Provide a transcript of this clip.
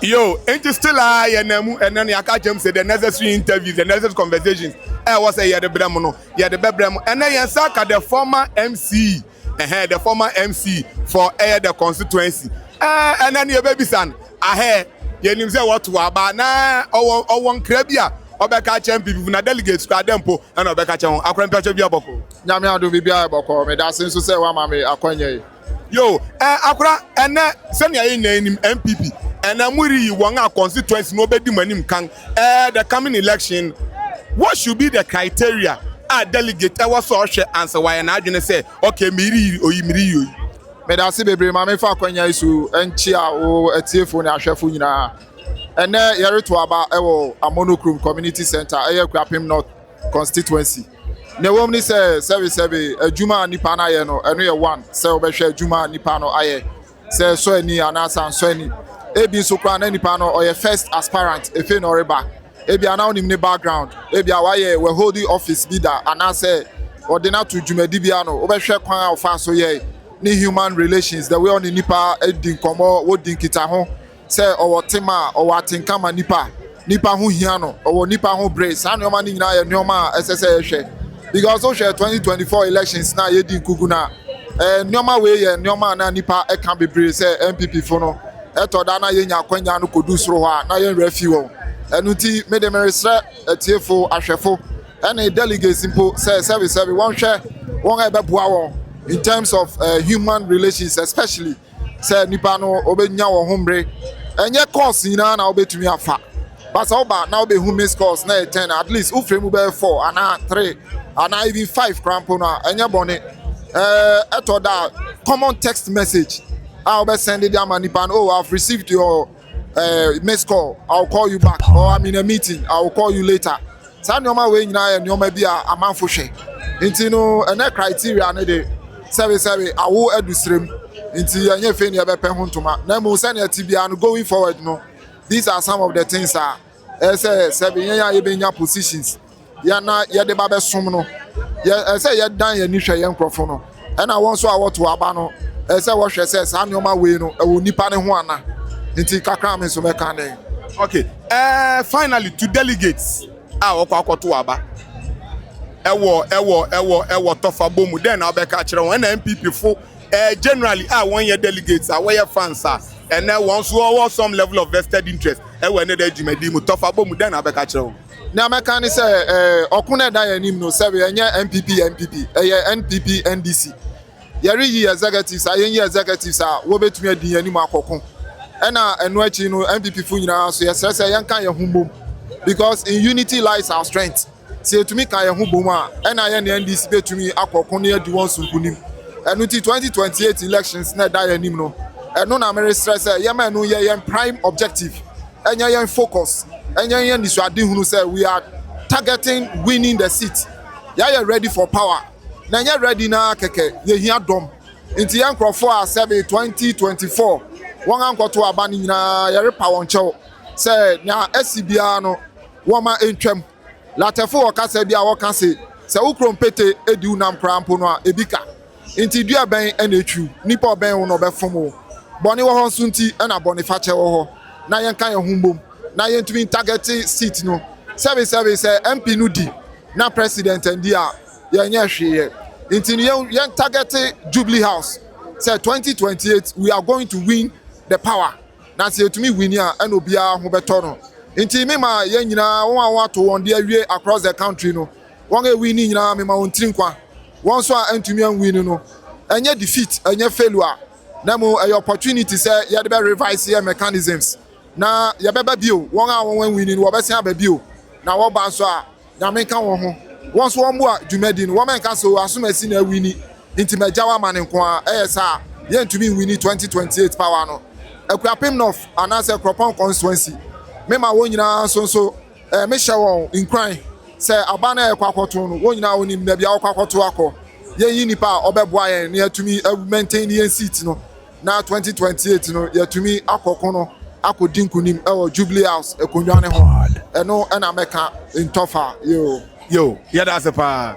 Yo, enti still ara yɛnam mu ɛnnɛ no yɛaka akyerɛ mu sɛ the necessary interviews, the necessary conversations a ɛwɔ sɛ yɛde brɛ mo no, yɛde bɛbrɛ mo. Ɛnnɛ yɛn nsa ka the former MC, ɛhɛɛ, the former MC for ɛyɛ the constituency. Ɛɛ, ɛnnɛ no yɛbɛbisa no, ahɛɛ, yɛnim sɛ wɔtow aba na ɔwɔ, ɔwɔ nkra bi a ɔbɛka akyerɛ MPP fo, na delegates koraa dɛn mpo na ɔbɛka akyerɛ wɔn. Akorampia kyɛ biribiara bɔkɔɔ. Nyame adom biribiara yɛ bɔkɔɔ. Meda ase nso sɛ woama me akwanya yi. Yo eh akora ɛnɛ sɛnea yɛ nyinaa nim NPP ɛnɛ mo reyi wɔn a constituency no ɔbɛdi mo anim kan eh the coming election what should be the criteria a delegate ɛwɔ sɛ ɔhwɛ ansa wayɛ n'adwene sɛ okay mereyi oyi mereyi oyi. Medase bebree ma mefa akwanya yi so nkyia wo atiefo ne ahwɛfo nyinaa. Ɛnɛ yɛreto aba wɔ Amono Krom Community Center ɛyɛ Akuapem North Constituency. Nea ɛwom ne sɛ, sɛbesɛbe, adwuma a nipa no ayɛ no, ɛno yɛ one sɛ wobɛhwɛ adwuma a nipa no ayɛ, sɛ ɛsɔ ani anaasɛ ansɔ ani. Ebi nso koraa na nipa no ɔyɛ first aspirant, afei na ɔreba. Ebia na wonim ne background, ebia wayɛ waholding office bi da anaasɛ wɔde no ato dwumadi bi ano. Wobɛhwɛ kwan a ɔfaa so yɛe, ne human relations, the way ɔne nnipa di nkɔmmɔ, wodi nkitaho. sɛ ɔwɔ tema a, ɔwɔ atenka ma nnipa, nnipa ho hia no, ɔwɔ nnipa ho bere. Saa nneɛma no nyinaa yɛ nneɛma a ɛsɛ sɛ yɛhwɛ because wohwɛ 2024 elections na yɛdi nkugu no a, eh, nneɛma wei yɛ nneɛma a na nnipa ɛka bebree sɛ NPP fo no ɛtɔ da na yɛnya akwanya no kɔdu soro hɔ a na yɛn werɛ fi wɔn. Ɛno nti mede meresrɛ atiefo, ahwɛfo ɛne delegates mpo sɛ sɛbesɛbe wɔnhwɛ wɔn a ɛbɛboa wɔn in terms of uh, human relations especially Sɛ nnipa no wɔbɛnya wɔn ho mmere. Ɛnyɛ course nyinaa na wobɛtumi afa but sɛ woba na wobɛhu miss course na ɛyɛ ten at least wofrɛ mu bɛyɛ four anaa three anaa even five koraa mpo no a ɛnyɛ bɔne ɛtɔ da a common text message a wobɛsɛnde de ama nnipa no oh I've received your eh, miss call i'll call you back or i'm in a meeting i'll call you later saa nneɛma wei nyinaa yɛ nneɛma bi a amanfo hwɛ nti no ɛnɛ criteria no de sɛbesɛbe awo adu serem nti yɛnyɛ fei ne yɛbɛpɛ ho ntoma na mmom sɛnea ɛte biara no going forward no these are some of the things a Ɛsɛ sɛ yɛn a yɛbɛnya positions yɛ na yɛde ba bɛsom no ɛsɛ yɛdan yɛn ani hwɛ yɛn nkurɔfo no ɛna wɔn nso a wɔto aba no ɛsɛ wɔhwɛ sɛ saa nneɛma wei no ɛwɔ nipa ne ho ana nti kakra me nso mɛka ne okay uh, finally to delegates a wɔkɔ akɔto aba ɛwɔ ɛwɔ ɛwɔ ɛwɔ tɔfa bɔ mu dɛn na wɔbɛka akyerɛ wɔn ɛna npp fo Eh, generally a wɔnyɛ delegates a wɔyɛ fans a ɛnɛ wɔn nso wɔwɔ some level of vested interest ɛwɔ ɛnɛ da dwumadi mu tɔfa bɔ mu dɛn na abɛka kyerɛ wɔn. Nea mɛka ne sɛ eh, ɔko na ɛda yɛn anim no sɛbe ɛnyɛ NPP NPP ɛyɛ NPP NDC yɛreyi executives a yɛnyi executives a wɔbɛtumi adi yɛn anim akɔko ɛna ɛno akyi no NPP fo nyinaa so yɛsrɛ sɛ yɛnka yɛn ho mmom because in unity lies our strength. Sɛ yɛtumi ka yɛn ho bom a, ɛna yɛne NDC bɛtumi akɔ ko ne adi wɔn so nkonim. Ɛno nti 2028 elections na ɛda yɛn anim no, ɛno na meresrɛ sɛ yɛma ɛno nyɛ yɛn prime objective, ɛnyɛ yɛn focus, ɛnyɛ yɛn anisoadehunu sɛ we are targeting winning the seat. Yɛayɛ ready for power, na ɛnyɛ ready no ara kɛkɛ, yɛhia dɔm. Nti yɛn nkorɔfoɔ a sɛ be 2024 wɔankɔto aba no nyinaa yɛrepa wɔn kyɛw sɛ nea asi biara no, Wɔma entwam. Latɛfo wɔ kasa bi a wɔka se, Sɛ wo kuro mpete di wo nam koraa mpo no a, ebi ka. Enti dua bɛn na etwiriw? Nnipa a ɔbɛn wo no, ɔbɛfom wo. Bɔne wɔ hɔ nso nti na bɔnefakyɛ wɔ hɔ, na yɛnka yɛn ho mmom na yentumi ntargɛte seat no. Sɛbesɛbe, sɛ MP no di na President anndi a, yɛnyɛ hwee yɛ. Enti no, yɛntargɛte Jubilee House sɛ 2028 we are going to win the power. Na sɛ yɛtumi wini a, ɛna obiara ho bɛtɔ no. Nti me ma yɛn nyinaa, wɔn a wɔato wɔn de awie across the country no, wɔn a ɛwini nyinaa me ma wɔn tiri nkwa. Wɔn nso a antumi anwini no, ɛnyɛ defeat, ɛnyɛ failure, na mmom ɛyɛ opportunity sɛ yɛde bɛ revise yɛn mechanisms na yɛbɛba bio. Wɔn a wɔn anwini no, wɔbɛsan aba bio, na wɔba nso a, Nyame nka wɔn ho. Wɔn nso wɔmboa dwumadi no. Wɔn nka sɛ o Asomasi na awini nti magyaw ama no nko ara. Ɛyɛ saa a, yɛntumi nwini 2028 power no. Akuapem North anaasɛ Kuropɔn Constituency, me ma wɔn nyinaa nso nso eh, me hyɛ wɔn nkuran sɛ aba no a yɛkɔ akɔto no, wɔn nyinaa wɔnim baabi a wɔkɔ akɔto akɔ. Yɛnyi nipa a ɔbɛboa yɛn na yɛatumi awu maintain yɛn seat no. Na twenty twenty eight no yɛatumi akɔ ko no akɔdi nkunim wɔ Jubilee House akonnwa no ho. Ɛno na mɛka ntɔfa. Yoo. Yoo, yɛda ase paa.